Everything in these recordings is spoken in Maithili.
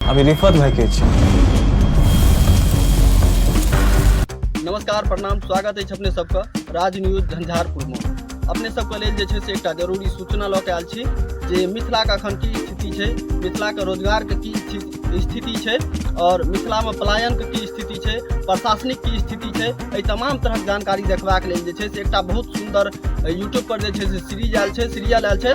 আমি রিফাত ভাইকে চিনি नमस्कार प्रणाम स्वागत अछि अपने सबके राज न्यूज झंझारपुरमे अपने सबके लेल जे छै से एकटा जरूरी सूचना लऽ कऽ आयल छी जे मिथिलाके एखन की स्थिति छै मिथिलाके रोजगारके की स्थिति- स्थिति छै आओर मिथिलामे पलायनके की स्थिति छै प्रशासनिक की स्थिति छै एहि तमाम तरहक जानकारी देखबाक लेल जे छै से एकटा बहुत सुन्दर यूट्यूबपर जे छै से सीरीज आयल छै सीरियल आयल छै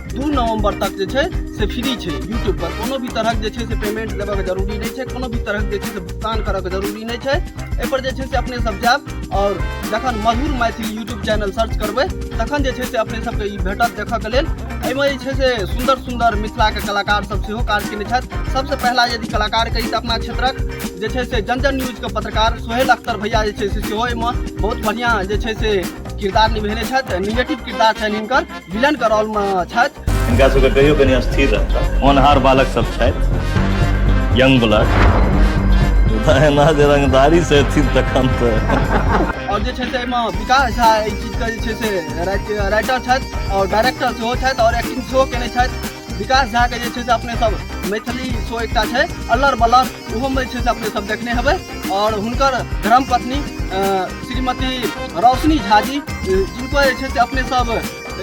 दू नवंबर तक जे छै से फ्री छै यूट्यूब पर कोनो भी तरहक जे छै से पेमेंट देबऽके जरूरी नहि छै कोनो भी तरहक जे छै से भुगतान करऽके जरूरी नहि छै एहिपर जे छै से अपने सब जायब आओर जखन Madhur Maithili YouTube channel search करबै तखन जे छै से अपने सबके ई भेटत देखऽके लेल एहिमे जे छै से सुन्दर सुन्दर मिथिलाके कलाकार सब सेहो काज केने छथि सबसँ पहिला यदि कलाकार कही तऽ अपना क्षेत्रक जे छै से जन जन न्यूजके पत्रकार सोहेल अख्तर भैया जे छै से सेहो एहिमे बहुत बढ़िआँ जे छै से किरदार निभेने छथि निगेटिव किरदार छनि हिनकर विलन के रोल मे छथि हिनका सबके कहियो कनि अस्थिर रहता होनहार बालक सब छथि यंग ब्लड एना जे रंगदारी से अथी तखन तऽ आओर जे छै से एहिमे विकास झा एहि चीजके जे छै से राइट- राइटर छथि आओर डायरेक्टर सेहो छथि आओर एक्टिंग सेहो केने छथि विकास झाके जे छै से अपने सब मैथिली शो एकटा छै अल्लर बल्लर ओहोमे जे छै से अपने सब देखने हेबै आओर हुनकर धर्मपत्नी अ, श्रीमती रोशनी झा जी अ, जिनको जे छै से अपने सब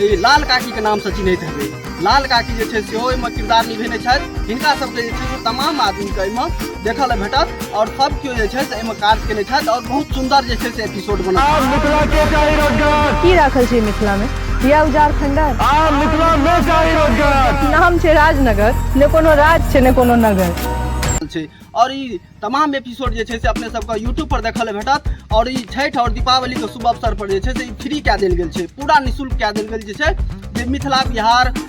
ई लाल काकीके नामसँ चिन्हैत हेबै लाल काकी जे छै से सेहो एहिमे किरदार निभेने छथि हिनका सबके जे छै से तमाम आदमीके एहिमे देखऽ लए भेटत आओर सब केओ जे छै से एहिमे काज केने छथि आओर बहुत सुन्दर जे छै से छोट बना आब मिथिला के चाही रोजगार की राखल छै मिथिला में दिया उजार खंडर आब मिथिला में चाही रोजगार नाम छै राजनगर ने कोनो राज छै ने कोनो नगर छै और ई तमाम एपिसोड जे छै से अपने सबके यूट्यूब पर देखल ले भेटत और ई छठ और दीपावली के शुभ अवसर पर जे छै से ई फ्री कए देल गेल छै पूरा निशुल्क कए देल गेल जे छै जे मिथिला बिहार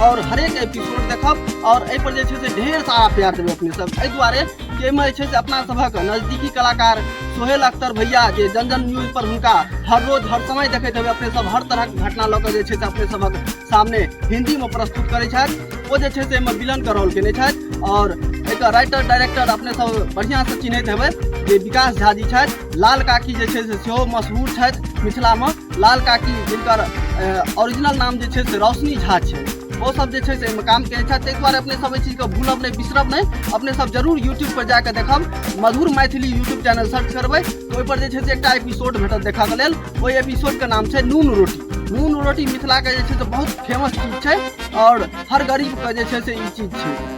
आओर हरेक एपिसोड देखब आओर एहिपर जे छै से ढेर सारा प्यार देबै अपने सब एहि दुआरे कि एहिमे जे छै से अपना सभक नजदीकी कलाकार सोहेल अख्तर भैया जे जन जन न्यूज पर हुनका हर रोज हर समय देखैत हेबै अपने सब हर तरहक घटना लऽ कऽ जे छै से अपने सभक सामने हिन्दीमे प्रस्तुत करैत छथि ओ जे छै से एहिमे विलनके रोल केने छथि आओर एकर राइटर डायरेक्टर अपने सब बढ़िआँसँ चिन्हैत हेबै जे विकास झा जी छथि लाल काकी जे छै से सेहो मशहूर छथि मिथिलामे लाल काकी जिनकर ओरिजिनल नाम जे छै से रोशनी झा छै ओ सब जे छै से एहिमे काम करै छथि ताहि दुआरे अपने सब एहि चीजके भूलब नहि बिसरब नहि अपने सब जरूर यूट्यूब पर जाके देखब Madhur Maithili YouTube channel search करबै तऽ ओहिपर जे छै से एकटा एपिसोड भेटत देखऽके लेल ओहि एपिसोडके नाम छै नून रोटी नून रोटी मिथिलाके जे छै से बहुत फेमस चीज छै आओर हर गरीबके जे छै से ई चीज छै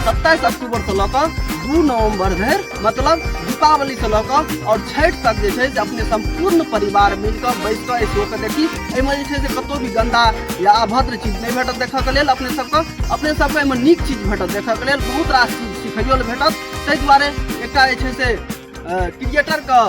सत्ताईस अक्टूबर से लऽ कऽ दू नवम्बर धरि मतलब दीपावली से लऽ कऽ आओर छठि तक जे छै से अपने सम्पूर्ण परिवार मिल कऽ बैस कऽ एहि शो के देखी एहिमे जे छै से कतौ भी गंदा या अभद्र चीज नहि भेटत देखऽ के लेल अपने सबके अपने सबके एहिमे नीक चीज भेटत देखऽ के लेल बहुत रास चीज सिखैयो लए भेटत ताहि दुआरे एकटा जे छै से क्रिएटर के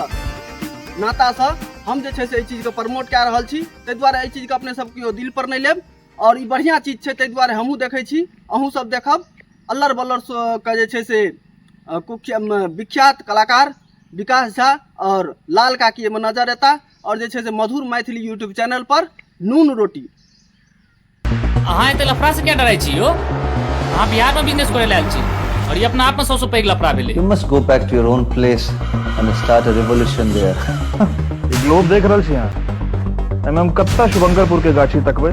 नातासँ हम जे छै से एहि चीजके प्रमोट कए रहल छी ताहि दुआरे एहि चीजके अपने सब केओ दिल पर नहि लेब आओर ई बढ़िआँ चीज छै ताहि दुआरे हमहूँ देखै छी अहूँ सब देखब अल्लर बल्लर के जे छै से विख्यात कलाकार विकास झा आओर लाल काकी एहिमे नजर एता आओर जे छै से मधुर मैथिली यूट्यूब चैनल पर नून रोटी अहाँ एते लफड़ा से क्या डराइ छी यो अहाँ बिहार में बिजनेस करे लायल छी और ये अपना आप में सबसे पैघ लफड़ा भेले you must go back to your own place and start a revolution there globe देख रहल छी अहाँ एम एम कत्ता शुभंकरपुर के गाछी तकबे